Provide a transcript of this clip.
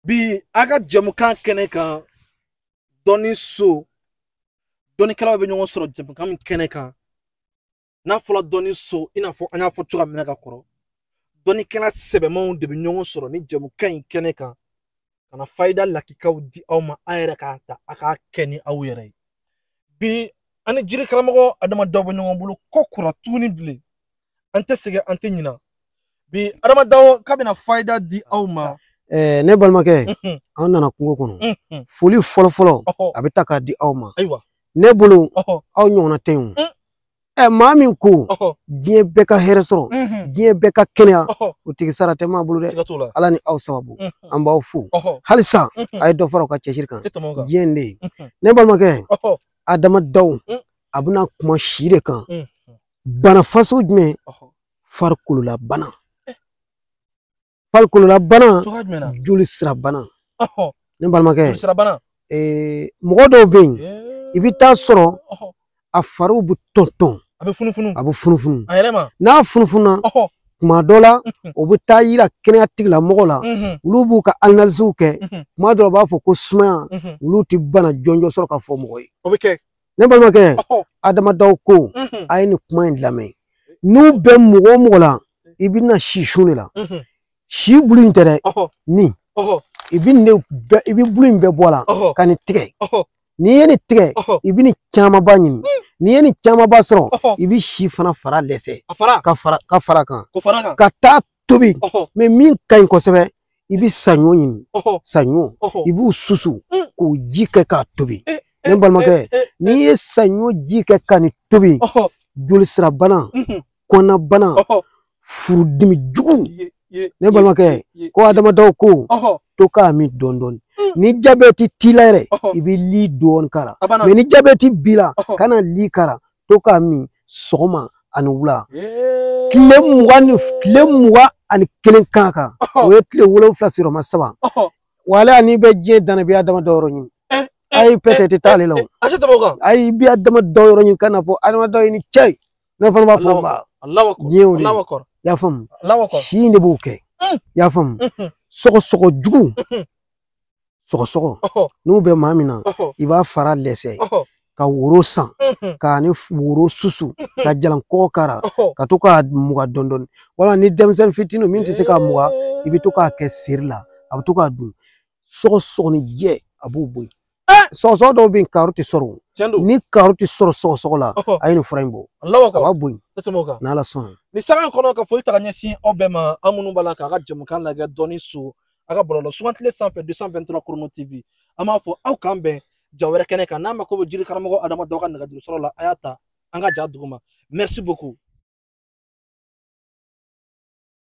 bi an ka jɛmukan kɛnɛ kan dɔnni so dɔnnikɛlaw bɛ ɲɔgɔn sɔrɔ jɛmukan min kɛnɛ kan n'a fɔra dɔnni so i n'a fɔ an y'a fɔ cogoya min na ka kɔrɔ dɔnnikɛla sɛbɛmanw de bɛ ɲɔgɔn sɔrɔ ni jɛmukan in kɛnɛ kan ka na fayida lakikaw di aw ma a yɛrɛ k'a ta a k'a kɛ ni aw yɛrɛ ye bi an ni jiri karamɔgɔ adama daw bɛ ɲɔgɔn bolo ko kura tuguni bilen an tɛ sɛgɛn an tɛ ɲina bi adama daw k'a bɛna fayida di aw ma ɛɛ ne balimakɛ an nana kungo kɔnɔ foli fɔlɔ fɔlɔ a bɛ ta k'a di aw ma ayiwa ne bolo aw ɲɔgɔnna tɛ yen ɛ maa min ko diɲɛ bɛɛ ka hɛrɛ sɔrɔ diɲɛ bɛɛ ka kɛnɛya o tigi sara tɛ maa bolo dɛ ala ni aw sababu an b'aw fo halisa a ye dɔ fara aw ka cɛsiri kan diɲɛ in de ye ne balimakɛ adama daw a bɛna kuma si de kan bana fasɔn jumɛn farikolola bana farikolola bana joli sira bana ne balimakɛ mɔgɔ dɔw bɛ yen i bɛ t'a sɔrɔ a fariw bɛ tɔn tɔn a bɛ funufunu a bɛ funufunu a yɛrɛ ma n'a funufununa tuma dɔ la o bɛ t'a yira kɛnɛya tigilamɔgɔ la olu b'u ka analiziw kɛ tuma dɔ la u b'a fɔ ko sumaya olu tɛ bana jɔnjɔn sɔrɔ k'a fɔ mɔgɔ ye o bɛ kɛ ne balimakɛ adama daw ko a ye nin kuma in lamɛn n'u bɛ mɔgɔ o mɔgɔ la i bɛna si sun de la si bulu in tɛ dɛ nin i bɛ nin bɛɛ i bɛ bulu in bɛɛ bɔ a la ka nin tigɛ n'i ye nin tigɛ i bɛ nin camanba ɲini n'i ye nin camanba sɔrɔ i bɛ si fana fara dɛsɛ ka fara ka fara a kan ka taa tobi mɛ min ka ɲi kosɛbɛ i bɛ saɲɔ ɲini saɲɔ i b'u susu mm. k'o ji kɛ k'a tobi eh, eh, ne balimakɛ eh, n'i ye saɲɔ ji kɛ ka nin tobi joli sira bana mm-hmm. kɔnɔna bana furudimi jugu ne balimakɛ ko adama daw ko to k'a min dɔɔni dɔɔni mm. ni jabɛti t'i la yɛrɛ i bɛ li dɔɔni k'a la mɛ ni jabɛti b'i la kana li k'a la to k'a min sɔgɔma ani wula tile mugan ni tile mugan ani kelen kan kan o ye tile wolonwula sigiyɔrɔma saba wala n'i bɛ diɲɛ dan na i bɛ adama daw yɔrɔ ɲini ayi peut-être t'ale la o ayi i bɛ adama daw yɔrɔ ɲini ka n'a fɔ adama daw i ni ce ne fana b'a fɔ nba diɲɛ o de y'a faamu si de b'o kɛ y'a faamu sɔgɔsɔgɔ jugu sɔgɔsɔgɔ n'u bɛ maa min na i b'a fara dɛsɛ ka woro san k'a ni woro susu k'a jalan kɔkɔ k'a la ka to k'a mugan dɔɔni dɔɔni wala ni denmisɛnnin fitinin min tɛ se k'a mugan i bɛ to k'a kɛ seri la a bɛ to k'a dun sɔgɔsɔgɔninjɛ a b'o bɔ yen sɔgɔsɔgɔ dɔw bɛ yen kaaro tɛ sɔrɔ ni kaaro tɛ sɔrɔ sɔgɔsɔgɔ la a ye nin fura in bɔ a b'a bɔ yen n'ala sɔnna nin sanga in kɔnɔ ka foli ta ka ɲɛsin aw bɛɛ ma aw minnu b'a la k'an ka jɛmukan lajɛ dɔnni so a ka bɔlɔlɔ sugantile sanfɛ 223 chrono tv an b'a fɔ aw k'an bɛn ja wɛrɛ kɛnɛ kan n'a mako bɛ jiri karamɔgɔ adama daw ka nɛgɛjuru sɔrɔ la a y'a ta an ka ja duguma merci beaucoup